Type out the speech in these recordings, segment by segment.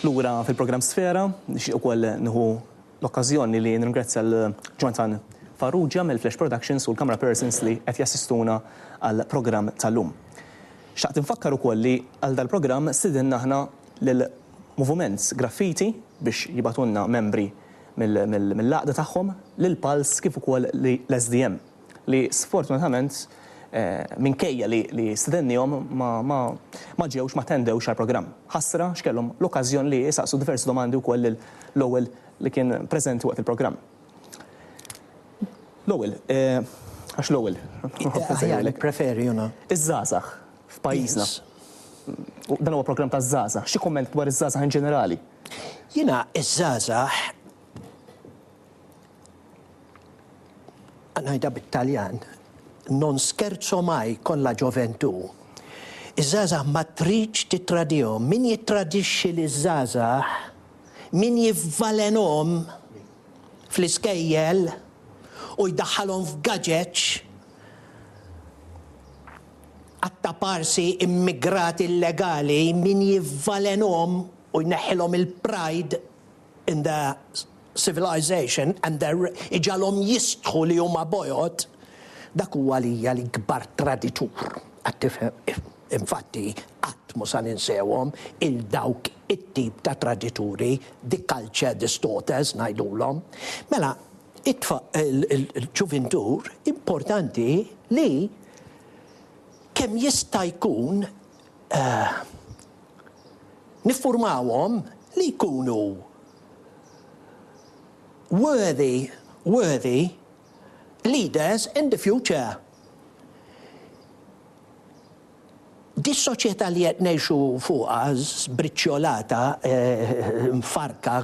Lura fil-programm Sfera, nixtieq ukoll nieħu l-okkażjoni li nirringrazzja lil Jonathan Farrugia mill-Flash Productions u l-camera persons li qed jassistuna għall-programm tal-lum. Xtaqt infakkar ukoll li għal dal-programm stidinna aħna lill-Moviment Graffiti biex jibgħatulna membri mill-għaqda tagħhom lil Pulse kif ukoll l-SDM li sfortunatament minkejja li stedennihom ma ġewx ma attendewx għall-programm. Ħasra x'kellhom l-okkażjon li jsaqsu diversi domandi wkoll lil Lowell li kien preżenti waqt il-programm. Lowell, għax Lowell nħobb insejħilek. Nippreferi hu na. Iż-żgħażagħ f'pajjiżna. Dan huwa programm taż-żgħażagħ. Xi kumment dwar iż-żgħażagħ in ġenerali? Jiena ż-żgħażagħ ngħidha bit-Taljan, non scherzo mai con la gioventù. Iż-żgħażagħ ma tridx tittradihom. Min jittradixxi liż-żgħażagħ, min jivvalenhom fl-iskejjel u jdaħħalhom f'gaġeġ għat-taparsi immigrati illegali, min jivvalenhom u jneħħilhom il-pride in their civilization and their iġgħalhom jistħu li huma bojod, dak hu għalija l-ikbar traditur, qed tifhem? Infatti, qatt mhu sa ninsewhom 'il dawk it-tip ta' tradituri, the culture distorters ngħidulhom. Mela, il-ġuvintur importanti li kemm jista' jkun Niffurmawhom li jkunu worthy, worthy, leaders in the future. Dis-soċjetà li qed ngħixu fuqha, żbriċċjolata, mfarrka,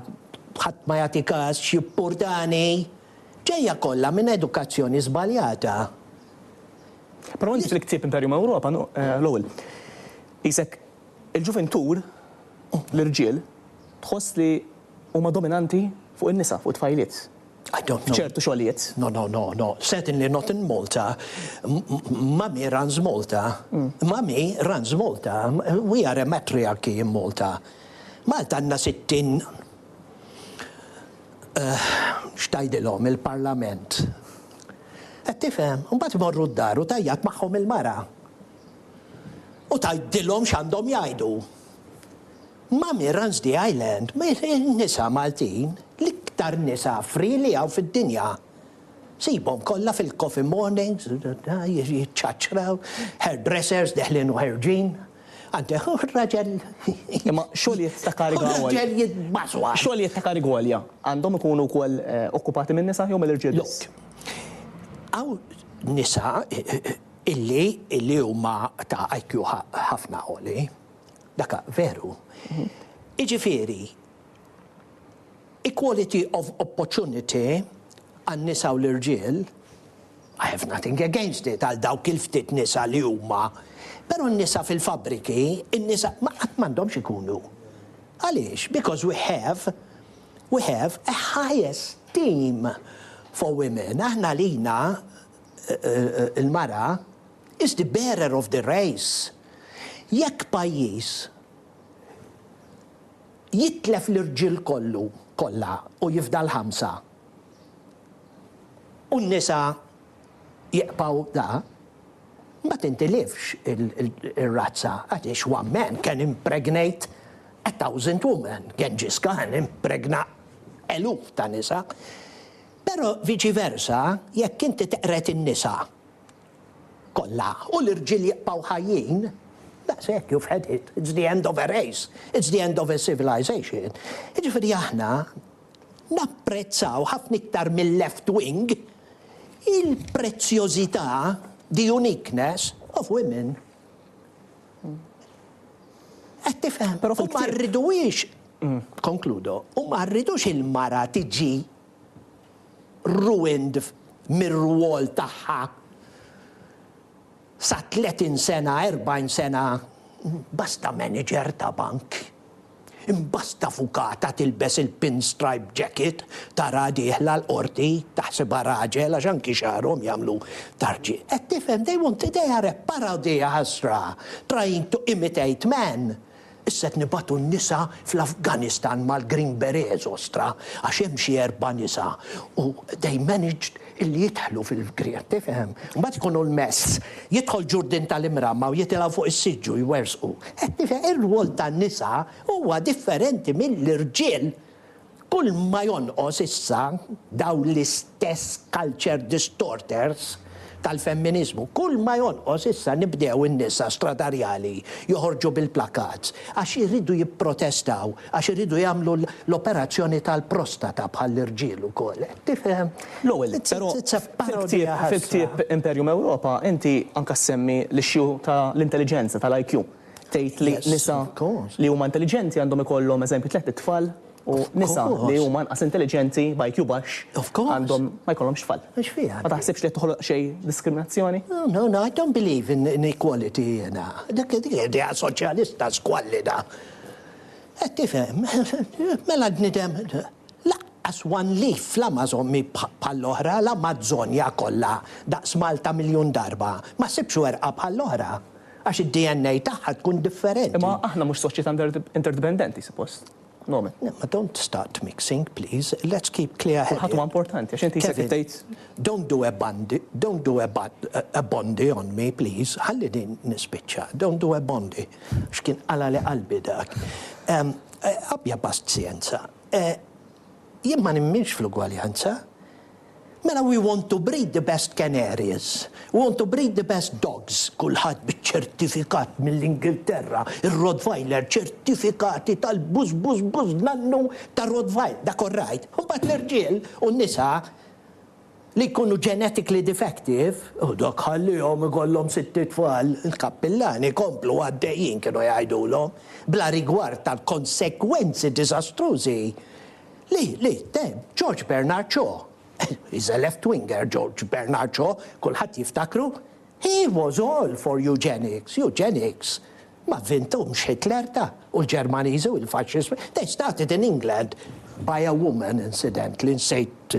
ħadd ma jagħti każ, xi purdani! Ġejja kollha minn edukazzjoni żbaljata. Però inti fil-ktieb Imperium Europa Lowell qisek il-ġuvintur, l-irġiel, tħoss li huma dominanti fuq in-nisa, fuq it-tfajliet, f'ċertu xogħlijiet. No, no, no, no. Certainly not in Malta. Mummy runs Malta. Mummy runs Malta. We are a matriarchy in Malta. Malta għandna sittin X'tgħidilhom il-Parlament? Qed tifhem? Imbagħad imorru d-dar u tgħajjat magħhom il-mara. U tgħidilhom x'għandhom jgħidu. Ma' min runs the island? In-nisa Maltin, l-iktar nisa free li hawn fid-dinja. Sibhom kollha fil-coffee mornings, jiċċaċċraw, hairdressers deħlin u ħerġin. Anke hu raġel. Imma xogħlijiet ta' kariga għolja. Hu raġel jitbażwa. Xogħlijiet ta' kariga għolja għandhom ikunu wkoll okkupati minn nisa jew mill-irġiel biss? Le. Hawn nisa illi illi huma ta' IQ ħafna għoli. Dak veru. Jiġifieri Equality of opportunity għan-nisa u l-irġiel, I have nothing against it għal dawk il-ftit nisa li huma, però n-nisa fil-fabbriki, in-nisa ma qatt m'għandhomx ikunu. Għaliex? Because we have, we have a high esteem for women. Aħna għalina l-mara is the bearer of the race. Jekk pajjiż, Jitlef l-irġiel kollu, kollha, u jifdal ħamsa. U n-nisa jiqbgħu da. Ma tintilifx ir-razza, għaliex one man can impregnate a thousand women, Genghis Khan impregna eluf ta' nisa. Però viċi versa, jekk inti teqred in-nisa kollha u l-irġiel jibqgħu ħajjin, daqshekk you've had it, it's the end of a race, it's the end of a civilization. Jiġifieri aħna napprezzaw ħafna iktar mil-left wing il-prezzjożità, the uniqueness, of women. Qed tifhem? Però fil-ktieb. U ma rridux, konkludo, u ma rridux il-mara tiġi ruined mir-rwol tagħha sa 30 sena, 40 sena, basta manager ta' bank, imbasta avukata tilbes il-pinstripe jacket taraha dieħla l-Qorti taħsibha raġel għax anki xagħarhom jagħmlu ta' rġiel. Qed tifhem they want they are a parodia ħasra trying to imitate man Issa qed nibagħtu n-nisa fl-Afganistan mal-Green Berets ostra għax hemm xi erba' nisa u they managed illi jidħlu fil-Green, tifhem? Mbagħad ikun hu l-mess. Jidħol Ġurdin tal-Imramma u jitilgħu fuq is-siġġu jwerżqu. Qed tifhem? Ir-rwol tan-nisa huwa differenti mill-irġiel. Kull ma jonqos issa dawn l-istess culture distorters tal-femminiżmu, kull ma jonqos issa nibdew in-nisa stradarjali joħorġu bil-plakats għax iridu jipprotestaw, għax iridu jagħmlu l-operazzjoni tal-prostata bħall-irġiel ukoll. Tifhem? L-ewwel nett, però, fil-ktieb Imperium Europa inti anke ssemmi l-issue tal-intelliġenza, tal-IQ. tgħid li nisa li huma intelliġenti għandhom ikollhom eżempju tliet itfal u nisa li huma anqas intelliġenti b'IQ baxx għandhom ma jkollhomx tfal. Ma taħsibx li qed toħloq xi diskriminazzjoni? No, no, I don't believe in inequality jiena. Dik idea soċjalista squallida. Qed tifhem? Mela l-bniedem Lanqas one leaf fl-Amazon mhi bħall-oħra, l-Amazzonja kollha daqs Malta miljun darba, ma ssibx werqa bħall-oħra, għax id-DNA tagħha tkun differenti. Imma aħna mhux soċjetà interdipendenti, suppost. Nomen. Imma don't start mixing, please. Let's keep clear headed. Kulħadd huwa importanti, għax inti jisek tgħid. Kevin, don't do a bandi, don't do a bad, a bondi on me, please. Ħallini nispiċċa, don't do a bondi. Għax kien qalali qalbi dak. Abbja pazjenza. Jien ma nemminx fl-ugwaljanza. Mela we want to breed the best canaries, we want to breed the best dogs, kulħadd biċ-ċertifikat mill-Ingilterra, ir-Rottweiler ċertifikati tal-bużbużbużnannu tar-Rottweiler, dak all right. Imbagħad l-irġiel u n-nisa li jkunu genetically defective, u dak ħalliehom ikollhom sitt itfal, il-kappillani komplu għaddejjin kienu jgħidulhom, bla rigward tal-konsegwenzi diżastrużi li li temm George Bernard Shaw. He is a left winger George Bernard Shaw, kulħadd jiftakru. He was all for eugenics, eugenics. Ma vvinthomx Hitler da, u l-Ġermaniżi u l-Faxxiżmu. They started in England by a woman incidentally, nsejt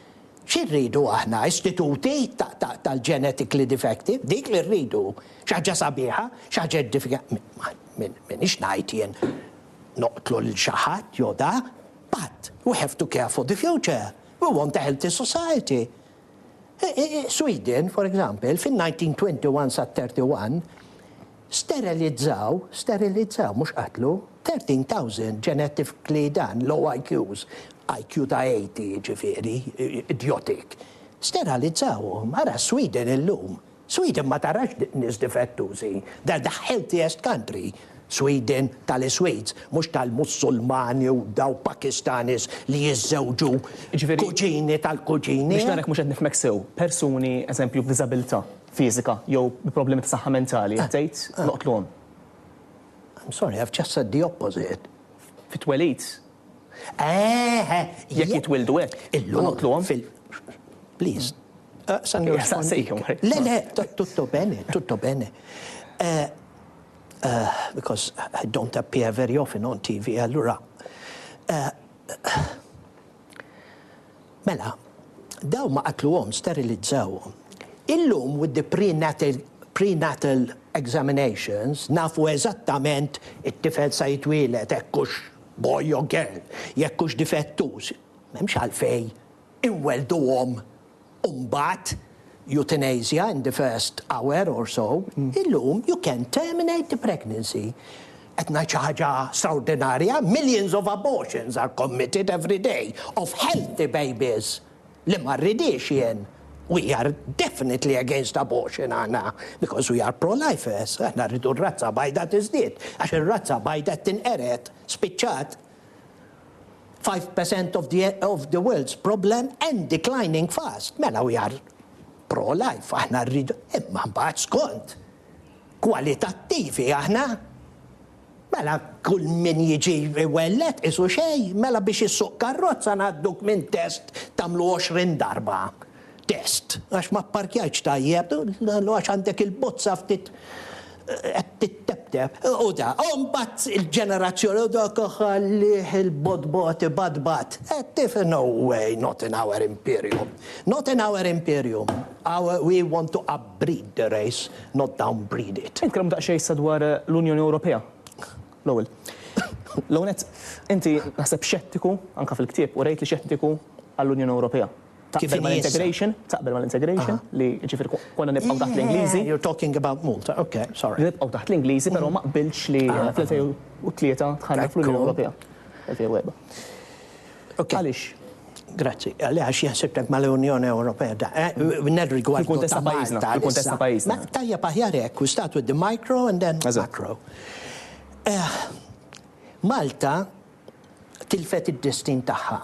Xi rridu aħna, istituti tal-genetically defective? Dik li rridu? Xi ħaġa sabiħa? Xi ħaġa edifika? M'iniex ngħid jien noqtlu lil xi ħadd jew dak, but we have to care for the future. We want a healthy society. Sweden, for example, fin-1921 sat-31, Sterilizzaw, sterilizzaw, mhux qatlu, 13,000 genetically dan low IQs, IQ ta' 80 jiġifieri, idiotic. Steralizzawhom, ara s-Sweden illum. Sweden ma tarax nies difettużi, they're the healthiest country, Sweden tal-Iswids, mhux tal-Mussulmani u daw Pakistanis li jiżżewġu kuġini tal-kuġini. Biex nara jekk mhux qed nifhmek sew, persuni, eżempju, b'diżabilità, fiżika jew bi problemi ta' saħħa mentali qed tgħid noqtluhom. I'm sorry, I've just said the opposite. Fit-twelid. Eh, eh. Jekk jitwildu hekk. Illum. Noqtluhom. Please. Saqsani u saqsejhom. Le, le, tutto bene, tutto bene. Eh, eh, because I don't appear very often on TV, allura. Eh, Mela, dawn ma qatluhomx, sterilizzawhom. Illum with the prenatal prenatal examinations nafu eżattament it-tifel sa jitwieled hekk hux boy or girl, jekk hux difettuż. M'hemmx għalfejn inwellduhom u mbagħad euthanasia in the first hour or so, illum you can terminate the pregnancy. Qed ngħid xi ħaġa straordinarja? Millions of abortions are committed every day of healthy babies li ma rridhiex jien. We are definitely against abortion aħna because we are pro-lifers, aħna rridu r-razza bajda tiżdied għax ir-razza bajda qed tinqered, spiċċat. Five percent of the of the world's problem and declining fast. Mela we are pro-life, aħna rridu, imma mbagħad skont kwalitattivi aħna Mela, kull min jiġi wellet isu xej, mela biex issuq karrozza ngħadduk minn test tagħmlu 20 darba. Test, għax ma pparkjajtx tajjeb, u għax għandek il-bozza ftit qed tittebteb. U da, u mbagħad il-ġenerazzjoni u dak ħallih il-botbot ibadbad. Tif, no way, not in our imperium. Not in our imperium. Our, we want to upbreed the race, not downbreed it. Nitkellmu daqsxejn issa dwar l-Unjoni Ewropea, l-ewwel. L-ewwel nett, inti naħseb xettiku, anke fil-ktieb, urejt li xettiku għall-Unjoni Ewropea. Taqbel mal-integration? Taqbel mal-integration? Li ġifieri konna nibqgħu taħt l-Ingliżi? You're talking about Malta, ok, sorry. Li nibqgħu taħt l-Ingliżi, però ma qbiltx li fl-2003 dħalna fl-Unjoni Ewropea. 2004. Ok. Għaliex? Grazzi. Għaliex jaħsibtek mal-Unjoni Ewropea da? Nirrigward. Fil-kuntest ta' pajjiżna. Fil-kuntest ta' pajjiżna. Tajjeb aħjar hekk, we start with the micro and then macro. Malta tilfet id-destin tagħha.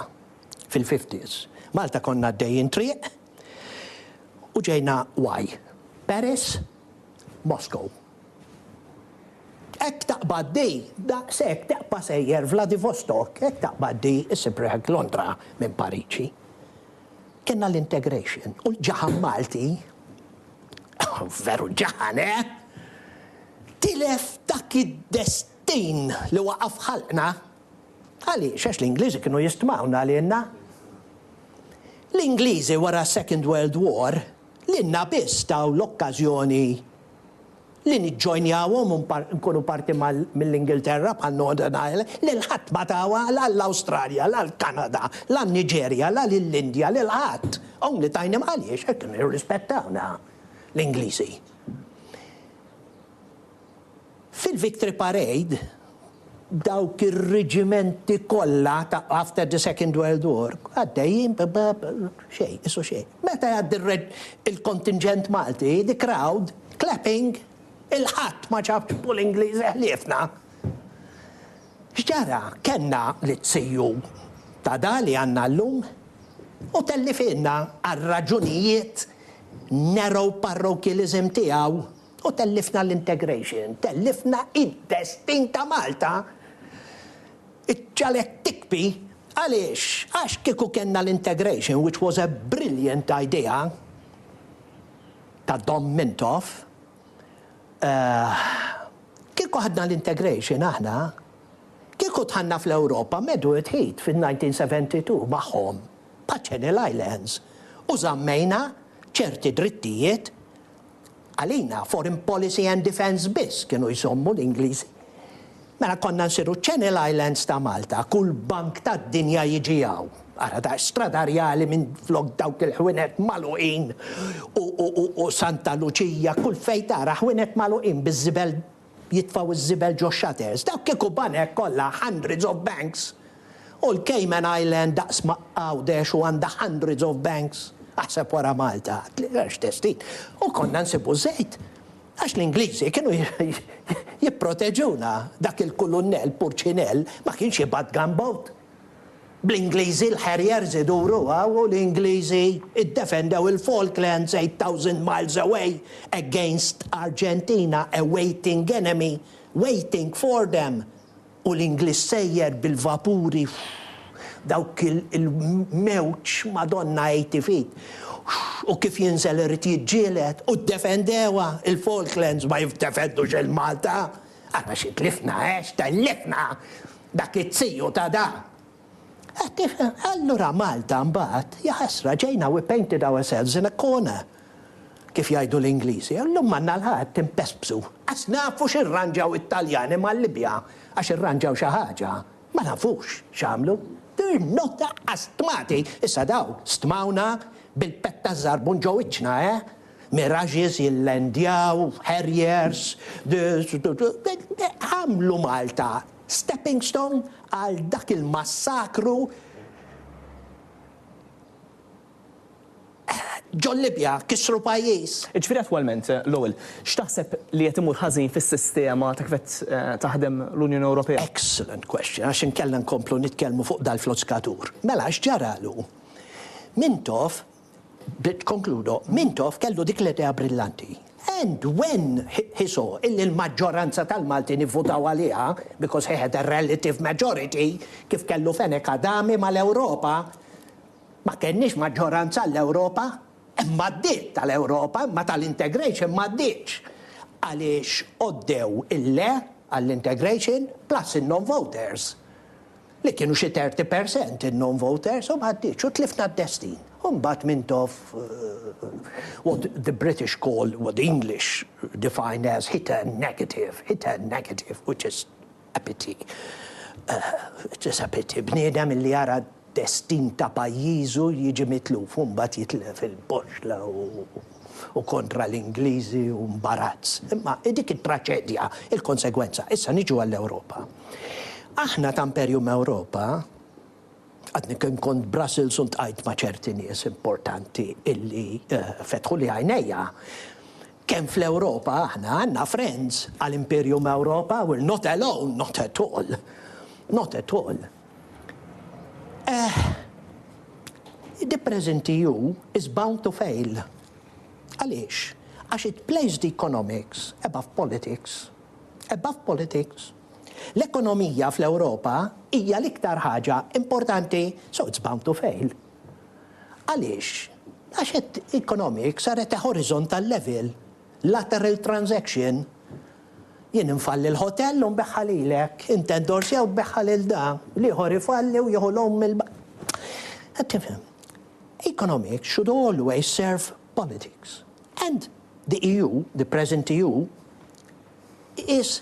fil-fifties. Malta konna għaddejjin triq u ġejna why? Paris? Moscow. Hekk taqbad di, daqshekk teqpa' sejjer Vladivostok, hekk taqbad di issib riħek Londra minn Pariġi. Kellna l-integration u l-ġaħan Malti, veru ġaħan eh, tilef dak id-destin li waqaf ħalqna. Għaliex? Għax l-Ingliżi kienu jistmawna għalienna. L-Ingliżi wara s-Second World War lilna biss taw l-okkażjoni li niġġojnjawhom u nkunu parti mill-Ingilterra bħal Northern Ireland, lil ħadd ma tawha la l-Awstralja, la l-Kanada, la n-Niġerja, la lill-Indja, lil ħadd. Only tajnihom għaliex? Għax kienu jirrispettawna l-Ingliżi. Fil-Victory Parade, dawk ir-riġimenti kollha ta' after the Second World War għaddejjin b' xejn, isu xejn. Meta jgħaddi il-kontinġent Malti, the crowd clapping, il-ħadd ma ġabx fuq l-Ingliżi ħliefna. X'ġara? Kellna l-izziju ta' da li għandna llum u tellifielna għar-raġunijiet narrow parrokialism tiegħu. U tellifna l-integration, tellifna id-destin ta' Malta! Iċ-ċalet tikbi! Għaliex? Għax kieku kellna l-integration, which was a brilliant idea ta' Dom Mintoff, kieku ħadna l-integration aħna, kieku dħalna fl-Ewropa Medwed Heat fil-1972 magħhom, bħaċ-Channel Islands, u żammejna ċerti drittijiet Għalina foreign policy and defence biss kienu jsommu l-Ingliżi. Mela konna nsiru Channel Islands ta' Malta, kull bank tad-dinja jiġi hawn. Ara daqs Stradarjali minflok dawk il-ħwienet magħluqin u Santa Luċija, kull fejn tara ħwienet magħluqin biż-żibel jitfgħu ż-żibel ġo shutters, dawk kieku banek kollha hundreds of banks u l-Cayman Island daqs ma' Għawdex u għandha hundreds of banks, aħseb wara Malta, x'testin, u konna nsibu ż-żejt għax l-Ingliżi kienu jipproteġuna, dak il-kulunnell Purċinell ma kienx jibgħat gunboat. Bl-Ingliżi l-Harriers iduru hawn u l-Ingliżi ddefendew il-Falklands 8,000 miles away against Argentina a waiting enemy waiting for them u l-Ingliż sejjer bil-vapuri dawk il-mewġ Madonna 80 feet u kif jinżel irid jiġġieled u ddefendewha il-Falklands ma jiddefendux il-Malta! Ara xi tlifna eh x'tellifna! Dak iz-ziju ta' da! Qed tifhem? Allura Malta mbagħad, jaħasra, ġejna we painted ourselves in a corner, kif jgħidu l-Ingliżi, u llum għandna l-ħadd impespsu. Qas nafu x'irranġaw it-Taljani mal-Libja għax irranġaw xi ħaġa, ma nafux x'għamlu. They're not astmati! Issa dawn stmawna bil-petta żarbun ġo wiċċna, eh? Mirages jillandjaw, Harriers, għamlu Malta stepping stone għal dak il-massakru ġol-Libja, kissru pajjiż. Jiġifieri attwalment, Lowell, x'taħseb li qed imur ħażin fis-sistema ta' kif qed taħdem l-Unjoni Ewropea? Excellent question, għax inkella nkomplu nitkellmu fuq dal-floskatur. Mela x'ġaralu? Mintoff Bdiet Concludo, Mintoff kellu dik l-idea brillanti, and when he saw illi l-maġġoranza tal-Maltin ivvutaw għaliha, because he had a relative majority, kif kellu fenek Adami mal-Ewropa, ma kenniex maġġoranza għall-Ewropa, hemm għaddiet tal-Ewropa imma tal-integration m'għaddietx, għaliex għoddew il-le għall-integration plus in-non-voters. li kienu xi 30 per cent in-non-voters u ma għaddietx u tlifna d-destin. U mbagħad Mintoff what the British call, what the English define as hit a negative, hit a negative which is a pity, it is a pity, bniedem illi jara d-destin ta' pajjiżu jiġi mitluf u mbagħad jitlef il-boxxla u. u kontra l-Ingliżi u mbarazz. Imma dik it-traċedja, il-konsegwenza. Issa niġu għall-Ewropa. Aħna ta' Imperium Ewropa, għadni kien kont Brussels u ntqajt ma' ċerti nies importanti illi eh, fetħu li għajnejja kemm fl-Ewropa aħna għandna friends għal Imperium Ewropa, we're not alone, not at all. Not at all. Eh, the present EU is bound to fail. Għaliex? Għax it plays the economics above politics. Above politics. L-ekonomija fl-Ewropa hija l-iktar ħaġa importanti, so it's bound to fail. Għaliex? Għax it economics are at a horizontal level, lateral transaction, Jien infalli l-ħotell u nbiegħha lilek. Int endorsja u tbiegħha lil da. L-ieħor ifalli u jieħu l-omm mill-. Qed tifhem? Economics should always serve politics. And the EU, the present EU, is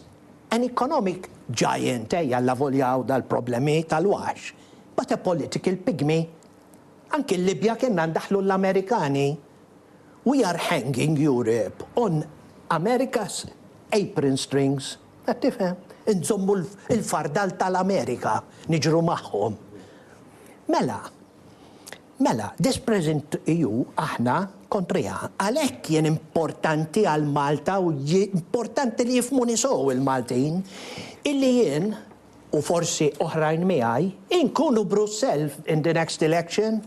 an economic giant, ejja allavolja hawn dal-problemi tal-waħx, but a political pigmy. Anki l-Libja kienna ndaħħlu l-Amerikani. We are hanging Europe on America's apron strings, qed tifhem? Inżommu l-fardal tal-Amerika, niġru magħhom. Mela, mela, this present EU aħna kontriha. Għalhekk jien importanti għal Malta u importanti li jifhmuni sew il-Maltin illi jien u forsi oħrajn miegħi inkunu Brussell in the next election.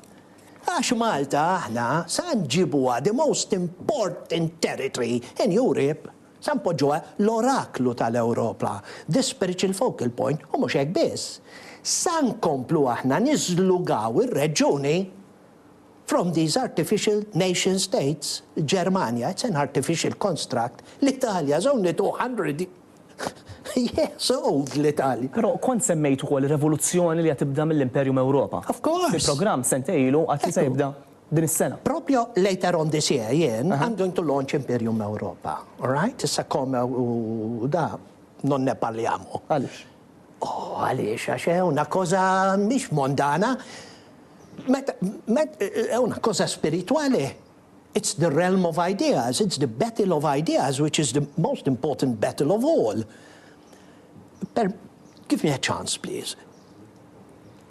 Għax Malta aħna sa nġibuha the most important territory in Europe, sa npoġġuha l-oraklu tal-Ewropa, the spiritual focal point u mhux hekk biss, sa nkomplu aħna niżlugaw ir-reġjuni from these artificial nation states, il-Ġermanja it's an artificial construct, l-Italja is only 200. Yes, oww, l-Italja! Però kont semmejt ukoll ir-revoluzzjoni li għad tibda mill-Imperju Mewropa. Of course! Fi programm sentej ilu għad li se jibda din is-sena. Propju later on this year jien I'm going to launch Imperju Mewropa. All right? Issa come u da, non ne parliamo. Għaliex? Oh, għaliex għax è una cosa mhix mondana. Meta, è una cosa spiritwali. It's the realm of ideas, it's the battle of ideas which is the most important battle of all. Per, give me a chance please.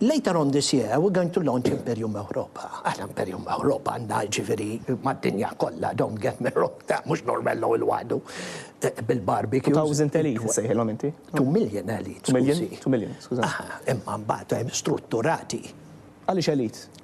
Later on this year, we're going to launch Imperium Europa. Aħna Imperium Europa għandna ġifiri mad-dinja kollha, don't get me wrong, ta' mhux normello il wadu eh, bil-barbecue. 2000 elite sejħilhom inti? 2 million elite. 2 million, 2 million, skuża. Imma mbagħad hemm strutturati. Għaliex elite?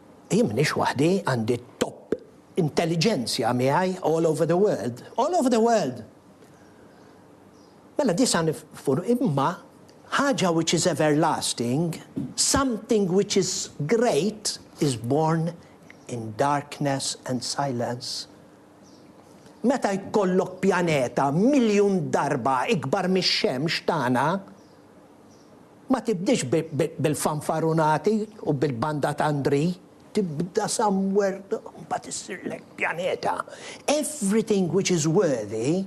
Jien m'iniex waħdi, għandi top intelligenzia miegħi all over the world, all over the world! Mela disa' nifur imma ħaġa which is everlasting, something which is great is born in darkness and silence. Meta jkollok pjaneta miljun darba ikbar mix-Xemx tagħna, Ma tibdiex bil-fanfarunati u bil-banda ta' Ndri. Tibda somewhere u mbagħad issirlek pjaneta. Everything which is worthy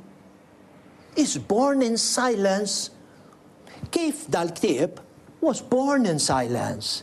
is born in silence kif dal-ktieb was born in silence.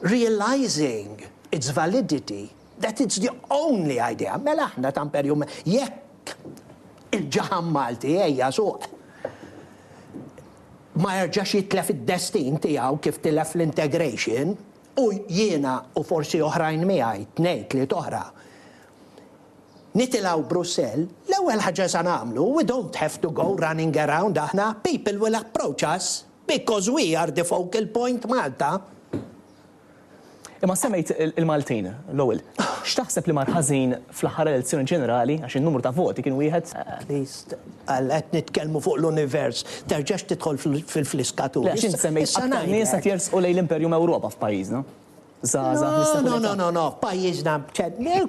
realising its validity that it's the only idea, mela aħna ta' Imperju jekk il-ġaħan Malti ejja suq ma jerġax jitlef id-destin tiegħu kif tilef l-integration u jiena u forsi oħrajn miegħi tnejn tliet oħra nitilgħu Brussell, l-ewwel ħaġa sa nagħmlu we don't have to go running around aħna people will approach us. Because we are the focal point Malta. Imma semmejt il-Maltin l-ewwel. X'taħseb li mar ħażin fl-aħħar elezzjoni ġenerali għax in-numru ta' voti kien wieħed? Please, għal qed nitkellmu fuq l-univers, terġax tidħol fil-fliskaturi. Le għax int semmejt aktar nies qed jersqu lejn l-Imperjum Ewropa f'pajjiżna. żgħażagħ li sabu l-età. No, no, no, no, f'pajjiżna,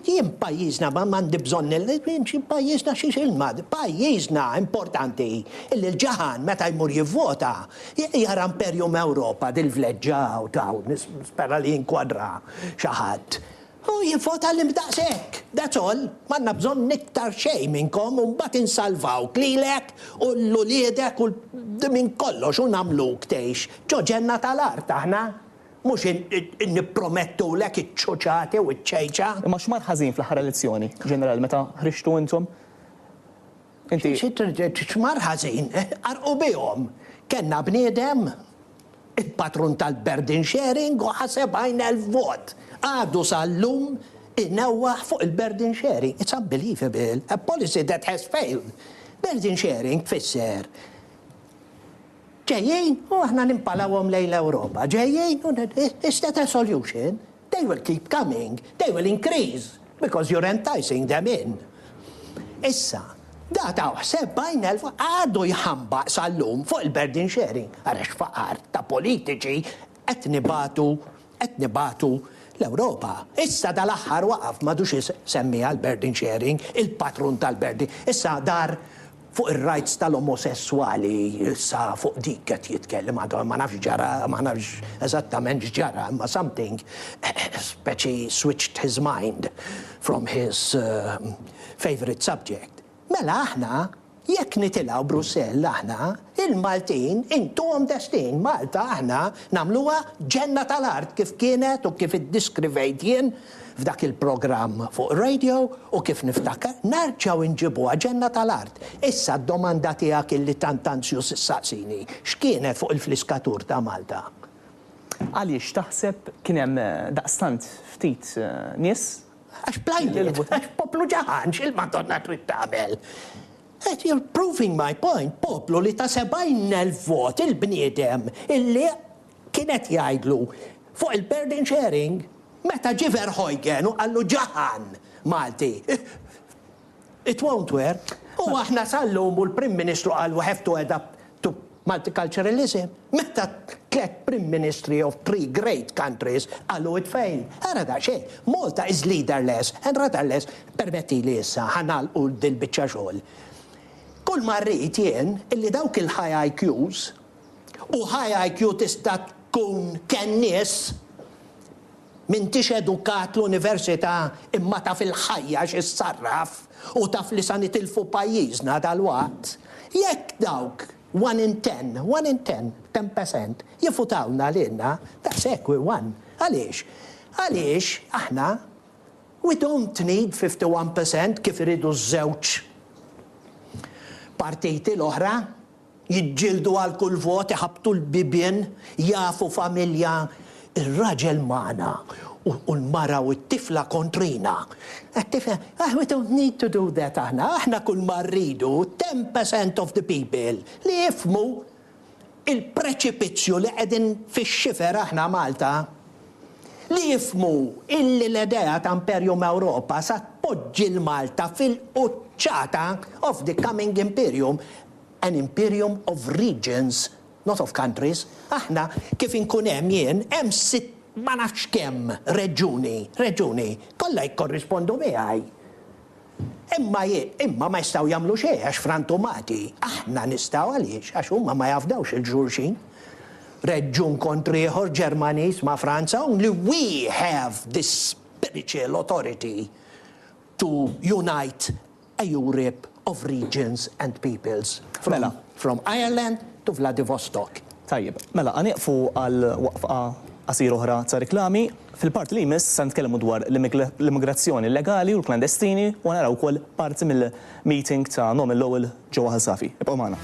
jien f'pajjiżna m'għandi bżonn nimxi f'pajjiżna xiex ilma. F'pajjiżna importanti illi l-ġaħan meta jmur jivvota jara Imperium Europa dil-vleġġa hawn t'hawn, nispera li jinkwadra xi ħadd, u jivvota lil daqshekk. That's all. M'għandna bżonn iktar xejn minnkom u mbagħad insalvawk lilek u 'l uliedek u 'l minn kollox u nagħmluk tgħix ġo ġenna tal-art aħna. Mhux nippromettulek iċ-ċuċati u ċ-ċejċa. Imma x'mar ħażin fl-aħħar elezzjoni, Ġeneral, meta ħriġtu intom? Inti. X'mar ħażin? Qarrqu bihom. Kellna bniedem, il-patrun tal-burden sharing u ħa 70,000 vot. Għadu sal-lum inewwaħ fuq il-burden sharing. It's unbelievable. A policy that has failed. Burden sharing tfisser Ġejjin u aħna nimpalawhom lejn l-Ewropa. Ġejjin u it's that a solution? They will keep coming, they will increase because you're enticing them in. Issa, da taw sebgħin elf għadu jħambaq sal-lum fuq il-burden sharing ara x'faqar ta' politiċi qed nibagħtu qed nibagħtu l-Ewropa. Issa dal-aħħar waqaf m'għadux isemmiha l-burden sharing, il-patrun tal-burden. Issa dar Fuq ir-rights tal-omosesswali issa fuq dik qed jitkellem għadu ma nafx x'ġara ma nafx eżattament x'ġara imma something speċi switched his mind from his favourite subject. Mela aħna jekk nitilgħu Brussell aħna il-Maltin intuhom destin Malta aħna nagħmluha ġenna tal-art kif kienet u kif iddiskrivejt jien f'dak il-programm fuq ir-radio u kif niftakar, nerġgħu inġibuha ġenna tal-art. Issa d-domanda tiegħek illi tant anzjuż issaqsini, x'kienet fuq il-fliskatur ta' Malta? Għaliex taħseb kien hemm daqstant ftit nies? Għax bl-għajjiet, għax poplu ġagħan x'il-Madonna trid tagħmel? Qed you're proving my point, poplu li ta' 70,000 vot il-bniedem illi Kien qed jgħidlu fuq il-burden sharing meta ġie Verheugen u qallu ġaħan Malti. It won't work. U aħna sal-lum u l-Prim Ministru qal we have to adapt to multiculturalism. Meta tliet Prim Ministri of three great countries qalu it failed. Ara daqsxejn, Malta is leaderless and rudderless. Permettili issa, ħa nagħlqu dil-biċċa xogħol. Kull ma rrid jien illi dawk il-high IQs u high IQ tista' tkun kenn nies, m'intix edukat l-università imma taf il-ħajja xi ssarraf u taf li sa nitilfu pajjiżna dalwaqt, jekk dawk one in ten, one in ten, ten percent, jivvutawlna lilna, daqshekk we won. Għaliex? Għaliex aħna we don't need fifty one percent kif iridu ż-żewġ partiti l-oħra. Jiġġieldu għal kull vot, iħabbtu l-bibien, jagħfu familja, ir-raġel magħna u l-mara u t-tifla kontrina. Qed tifhem? Aħ we don't need to do that aħna, aħna kull ma rridu, ten percent of the people, li jifhmu il-preċipizzju li qegħdin fix-xifer aħna Malta, li jifhmu illi l-idea ta' Imperium Europa sa tpoġġi 'l Malta fil-quċċata of the coming Imperium An imperium of regions, not of countries, aħna kif inkun hemm jien, hemm sitt ma nafx kemm reġjuni, reġjuni, kollha jikkorrispondu miegħi. Imma ji, imma ma jistgħu jagħmlu xejn għax frantumati. Aħna nistgħu għaliex? Għax huma ma jafdawx il-xulxin. Reġjun kontr ieħor, Ġermaniż ma' Franza, only we have this spiritual authority to unite Eurip of Regions and Peoples, Mela. from Ireland to Vladivostok. Tajjeb. Mela, ħa nieqfu għal waqfqa qasira oħra ta' riklami. Fil-parti li jmiss se nitkellmu dwar l-immigrazzjoni illegali u l-klandestini u ħa naraw ukoll parti mill-meeting ta' Norman Lowell ġewwa Ħal Safi. Ibqgħu magħna.